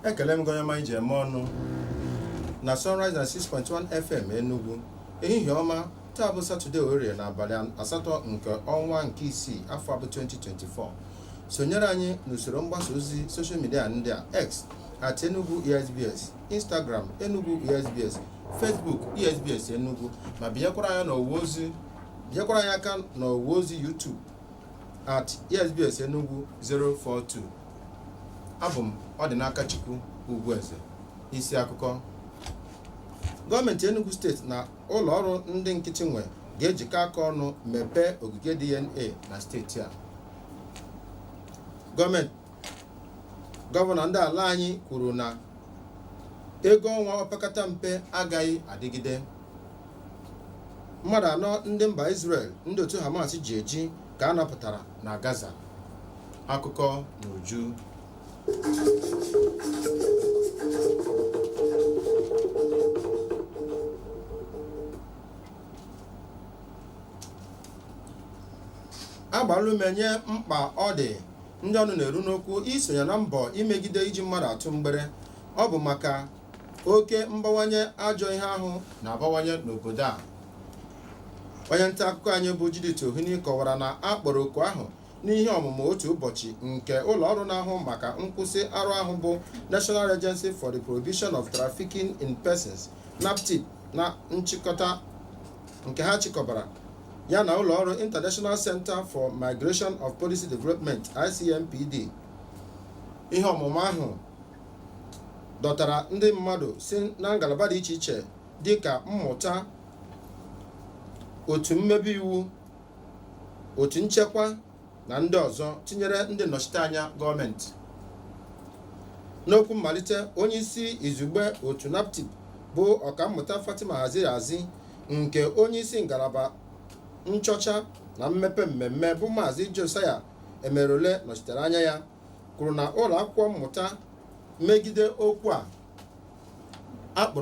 ekele m gị onye ọma e ji eme ọnụ na Sunrise 96.1 FM Enugu ehihie ọma taa bụ satọde orie na abalị asatọ nke ọnwa nke isii afọ a bụ 2024 sonyere anyị n'usoro mgbasa ozi soshal midia ndị a x at enugu esbs instagram enugu esbs facebook esbs enugu ma binyekwara anyị n'ọwa ozi nyekwara anyị aka n'ọwa ozi YouTube at esbs Enugu 042 abụ m Ọdịnakachukwu Ugwueze isi akụkọ gọọmenti Enugu steeti na ụlọ ọrụ ndị nkịtị nwe ga-ejikọ aka ọnụ mepee ogige DNA na steeti a gọọmenti gọvanọ ndị ala anyị kwuru na ego ọnwa opekata mpe agaghị adịgide mmadụ anọ ndị mba Israel ndị otu Hamas ji eji ka a napụtara na Gaza akụkọ n'uju a gbaala ume nye mkpa ọ dị ndị ọnụ na-eru n'okwu isonye na mbọ imegide iji mmadụ atụ mgbere ọ bụ maka oke mbawanye ajọ ihe ahụ na-abawanye n'obodo a onye nta akụkọ anyị bụ Judith Ohini kọwara na a kpọrọ oku ahụ n'ihe ọmụmụ otu ụbọchị nke ụlọ ọrụ na-ahụ maka nkwụsị arụ ahụ bụ National Agency for the Prohibition of Trafficking in Persons NAPTIP na nchịkọta nke ha chịkọbara ya na ụlọ ọrụ International Center for Migration of Policy Development ICMPD ihe ọmụmụ ahụ dọtara ndị mmadụ si na ngalaba dị iche iche dị ka mmụta otu mmebe iwu otu nchekwa na ndị ọzọ tinyere ndị nnọchiteanya gọọmenti n'okwu mmalite onye isi izugbe otu naptip bụ ọkammụta Fatima Waziri-Azi nke onye isi ngalaba nchọcha na mmepe mmemme bụ maazị Josiah Emerole nọchitere anya ya kwuru na ụlọ akwụkwọ mmụta megide okwu a a kpụ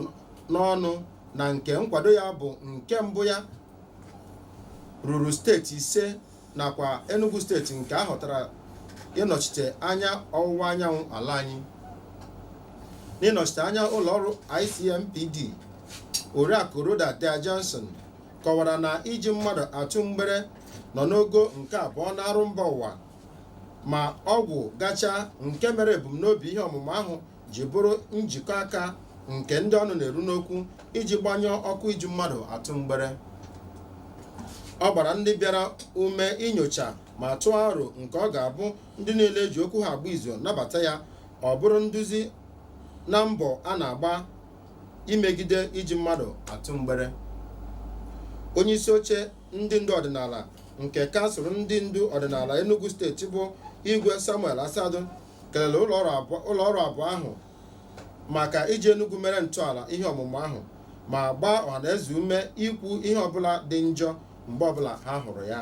n'ọnụ na nke nkwado ya bụ nke mbụ ya ruru steeti ise nakwa Enugu steeti nke a họtara ịnọchite anya ọwụwa anyanwụ ala anyị n'ịnọchite anya ụlọ ọrụ ICMPD Oriakụ Rhoda Dia-Johnson kọwara na iji mmadụ atụ mgbere nọ n'ogo nke abụọ n'arụ mba ụwa ma ọgwụ gacha nke mere ebumnobi ihe ọmụmụ ahụ ji bụrụ njikọ aka nke ndị ọnụ na-eru n'okwu iji gbanyụọ ọkụ iji mmadụ atụ mgbere ọ gbara ndị bịara ume inyocha ma tụọ aro nke ọ ga-abụ ndị niile eji okwu ha agba izu nabata ya ọ bụrụ nduzi na mbọ a na-agba imegide iji mmadụ atụ mgbere onye isi oche ndị ndu ọdịnala nke kansụl ndị ndu ọdịnala Enugu steeti bụ Igwe Samuel Asadu kelere ụlọ ọrụ abụọ ahụ maka iji Enugu mere ntọala ihe ọmụmụ ahụ ma gbaa ọhanaeze ume ikwu ihe ọbụla dị njọ mgbe ọbụla ha hụrụ ya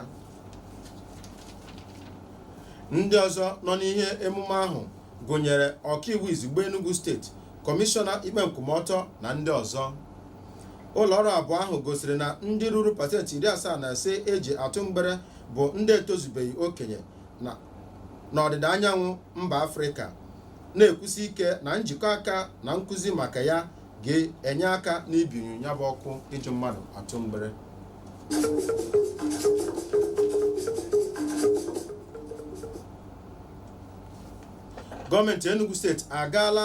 ndị ọzọ nọ n'ihe emume ahụ gụnyere ọkaiwu izugbe Enugu steeti kọmishọna ikpe nkwụmọtọ na ndị ọzọ ụlọ ọrụ abụọ ahụ gosiri na ndị ruru pasentị iri asaa na ise eji atụ mgbere bụ ndị etozubeghị okenye n'ọdịda anyanwụ mba afrịka na-ekwusi ike na njikọ aka na nkụzi maka ya ga-enye aka n'ibinyụ ya bụ ọkụ iji mmadụ atụ mgbere gọọmenti enugu steeti agaala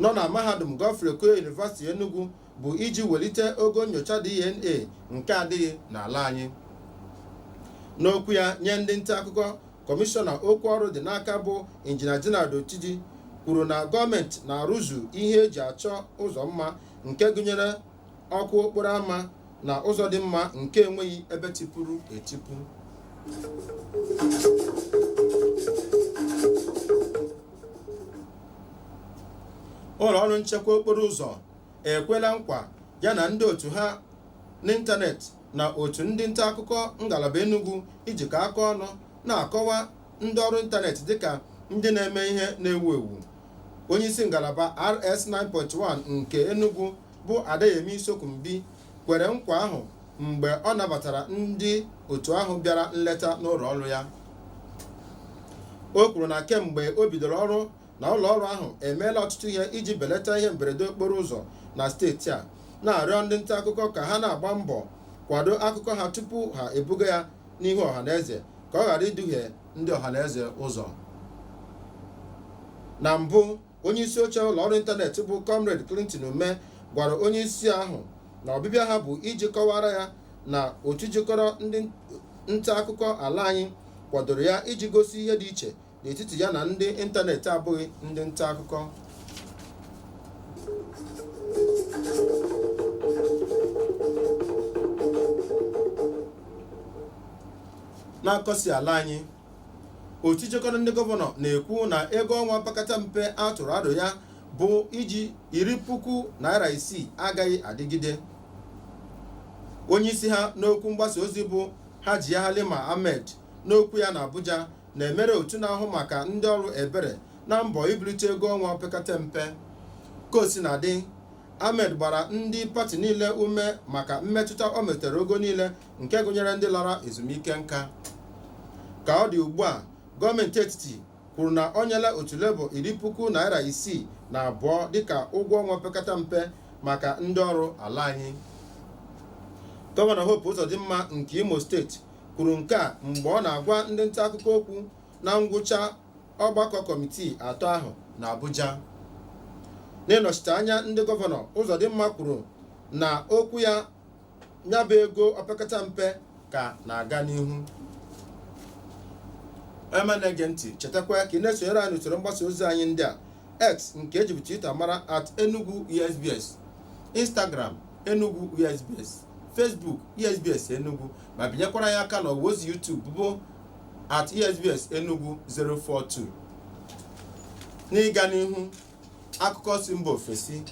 nọ na mahadum Godfrey Okoye University Enugu bụ iji welite ogo nyocha DNA nke adịghị n'ala anyị n'okwu ya nye ndị nta akụkọ kọmishọna okwu ọrụ dị n'aka bụ injinia Gerald Otiji kwuru na gọọmenti na-arụzu ihe eji achọ ụzọ mma nke gụnyere ọkụ okporo ama na ụzọ dị mma nke enweghị ebe tipuru etipu ụlọ ọrụ nchekwa okporo ụzọ ekwela nkwa ya na ndị otu ha n'ịntanetị na otu ndị nta akụkọ ngalaba Enugu ijikọ aka ọnụ na-akọwa ndị ọrụ ịntanetị dịka ndị na-eme ihe na-ewu ewu onye isi ngalaba rs 9.1 nke enugu bụ adeyemi sokunbi kwere nkwa ahụ mgbe ọ nabatara ndị otu ahụ bịara nleta n'ụlọ ọrụ ya o kwuru na kemgbe o bidoro ọrụ na ụlọ ọrụ ahụ emeela ọtụtụ ihe iji belata ihe mberede okporo ụzọ na steeti a na-arịọ ndị nta akụkọ ka ha na-agba mbọ kwado akụkọ ha tupu ha ebuga ya n'ihu ọha na eze ka ọ ghara iduhie ndị ọhaneze ụzọ na mbụ onye isi oche ụlọ ọrụ ịntanetị bụ comrade Clinton Ume gwara onye isi ahụ na ọbịbịa ha bụ iji kọwara ya na otu jikọrọ ndị nta akụkọ ala anyị kwadoro ya iji gosi ihe dị iche n'etiti ya na ndị ịntanetị abụghị ndị nta akụkọ n'akụkọ si ala anyị otu jikọrọ ndị gọvanọ na-ekwu na ego ọnwa opekata mpe a tụrụ aro ya bụ iji iri puku naira isii agaghị adịgide onye isi ha n'okwu mgbasa ozi bụ Hajiya Halima Ahmed n'okwu ya na Abuja na-emere otu na-ahụ maka ndị ọrụ ebere na mbọ ibulite ego ọnwa opekata mpe ka o sina dị ahmed gbara ndị pati niile ume maka mmetụta o metere ogo niile nke gụnyere ndị lara ezumike nka ka ọ dị ugbu a gọọmenti etiti kwuru na o nyela otu labour iri puku naira isii na abụọ dịka ụgwọ ọnwa opekata mpe maka ndị ọrụ ala anyị gọvanọ hope ụzọdịmma nke imo steeti kwuru nke a mgbe ọ na-agwa ndị nta akụkọ okwu na ngwụcha ọgbakọ kọmitii atọ ahụ na Abuja n'ịnọchite anya ndị gọvanọ Ụzọdịmma kwuru na okwu ya nyabụ ego opekata mpe ka na-aga n'ihu onye ọma na-ege ntị chetakwa ka ị na-esonyere anyị n'usoro mgbasa ozi anyị ndị a x nke e jibu twitter mara at enugu esbs instagram enugu esbs Facebook ESBS Enugu ma binyekwara ya aka n'ọwa ozi YouTube bụ at ESBS Enugu 042 n'ịga n'ihu akụkọ si mba ofesi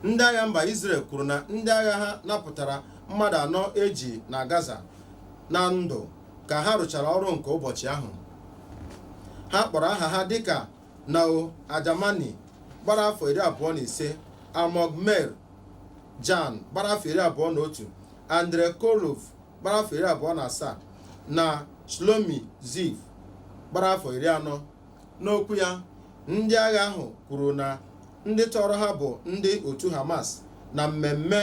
ndị agha mba Israel kwuru na ndị agha ha napụtara mmadụ anọ e ji na Gaza na ndụ ka ha rụchara ọrụ nke ụbọchị ahụ ha kpọrọ aha ha dịka Noa Argamani gbara afọ iri abụọ na ise Almog Meir Jan gbara afọ iri abụọ na otu Andrey Kozlov gbara afọ iri abụọ na asaa na Shlomi Ziv gbara afọ iri anọ n'okwu ya ndị agha ahụ kwuru na ndị tọrọ ha bụ ndị otu Hamas na mmemme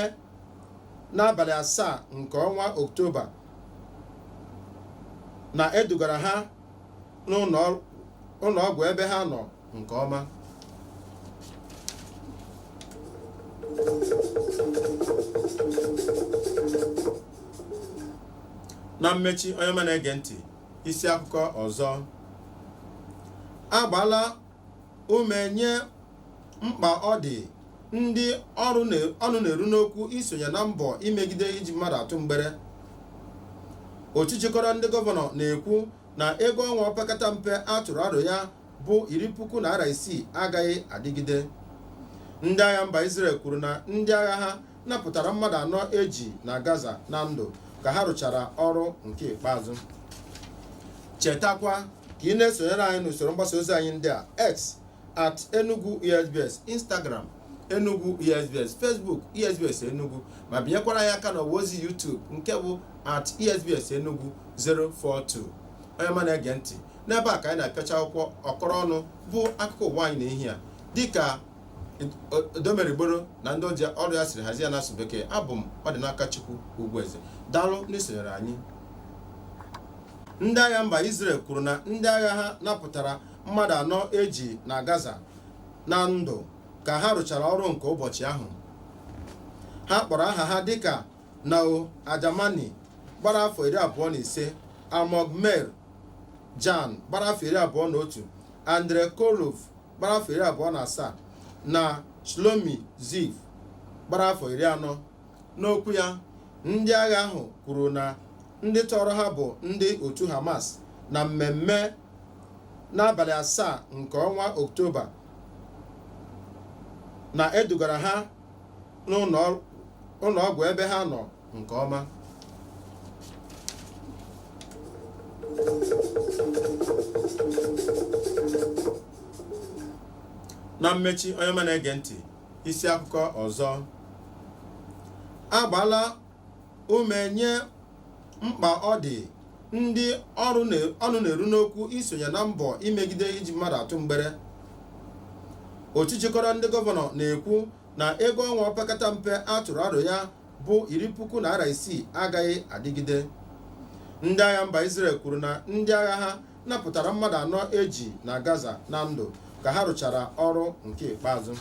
n'abalị asaa nke ọnwa Oktoba na e dugara ha n'ụlọ ọgwụ ebe ha nọ nke ọma na mmechi onye ọma na-ege ntị isi akụkọ ọzọ a gbaala ume nye mkpa ọ dị ndị ọnụ na-eru n'okwu isonye na mbọ imegide iji mmadụ atụ mgbere otu jikọrọ ndị gọvanọ na-ekwu na ego ọnwa opekata mpe a tụrụ aro ya bụ iri puku naira isii agaghị adịgide ndị agha mba Israel kwuru na ndị agha ha napụtara mmadụ anọ eji na Gaza na ndụ ka ha rụchara ọrụ nke ikpeazụ chetakwa ka ị na-esonyere anyị n'usoro mgbasa ozi anyị ndị a x at enugu esbs instagram enugu esbs facebook esbs enugu ma binyekwara anyị aka n'ọwa ozi youtube nke bụ at esbs enugu 042 onye ọma na-ege ntị n'ebe a ka anyị na-apịachi akwụkwọ ọkọrọ ọnụ bụ akụkọ ụwa anyị n'ehihie a dịka odomerigboro na ndị ọrụ ya siri hazie ya n'asụsụ bekee abụ m ọdịnakachukwu ugwueze daalụ n'isonyere anyị ndị agha mba Israel kwuru na ndị agha ha napụtara mmadụ anọ eji na Gaza na ndụ ka ha rụchara ọrụ nke ụbọchị ahụ ha kpọrọ aha ha dịka Nao Argamani gbara afọ iri abụọ na ise Almog Meir Jan gbara afọ iri abụọ na otu Andrey Kozlov gbara afọ iri abụọ na asaa na Shlomi Ziv gbara afọ iri anọ n'okwu ya ndị agha ahụ kwuru na ndị tọọrọ ha bụ ndị otu Hamas na mmemme n'abalị asaa nke ọnwa oktoba na e dugara ha n'ụlọ ọgwụ ebe ha nọ nke ọma na mmechi onye ọma na-ege ntị isi akụkọ ọzọ agbaala ume nye mkpa ọ dị ndị ọnụ na-eru n'okwu isonye na mbọ imegide iji mmadụ atụ mgbere otu jikọrọ ndị gọvanọ na-ekwu na ego ọnwa opekata mpe a tụrụ aro ya bụ iri puku naira isii agaghị adịgide ndị agha mba Israel kwuru na ndị agha ha napụtara mmadụ anọ eji na Gaza na ndụ ka ha rụchara ọrụ nke ikpeazụ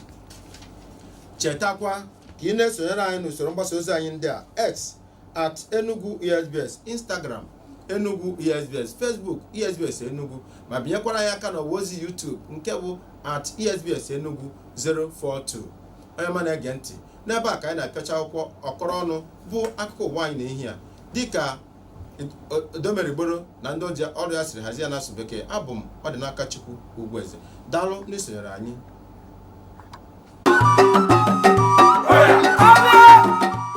chetakwa ka ị na-esonyere anyị n'usoro mgbasa ozi anyị ndị a x at enugu esbs instagram enugu esbs facebook esbs enugu ma binyekwara anyị aka n'ọwa ozi youtube nke bụ at esbs enugu 042 onye ọma na-ege ntị n'ebe a ka anyị na-apịachi akwụkwọ ọkọrọ ọnụ bụ akụkọ ụwa anyị n'ehihie a dịka odomerigboro na ndị ọrụ ya siri hazie ya n'asụsụ bekee abụ m ọdịnakachukwu ugwueze daalụ n'isonyere anyị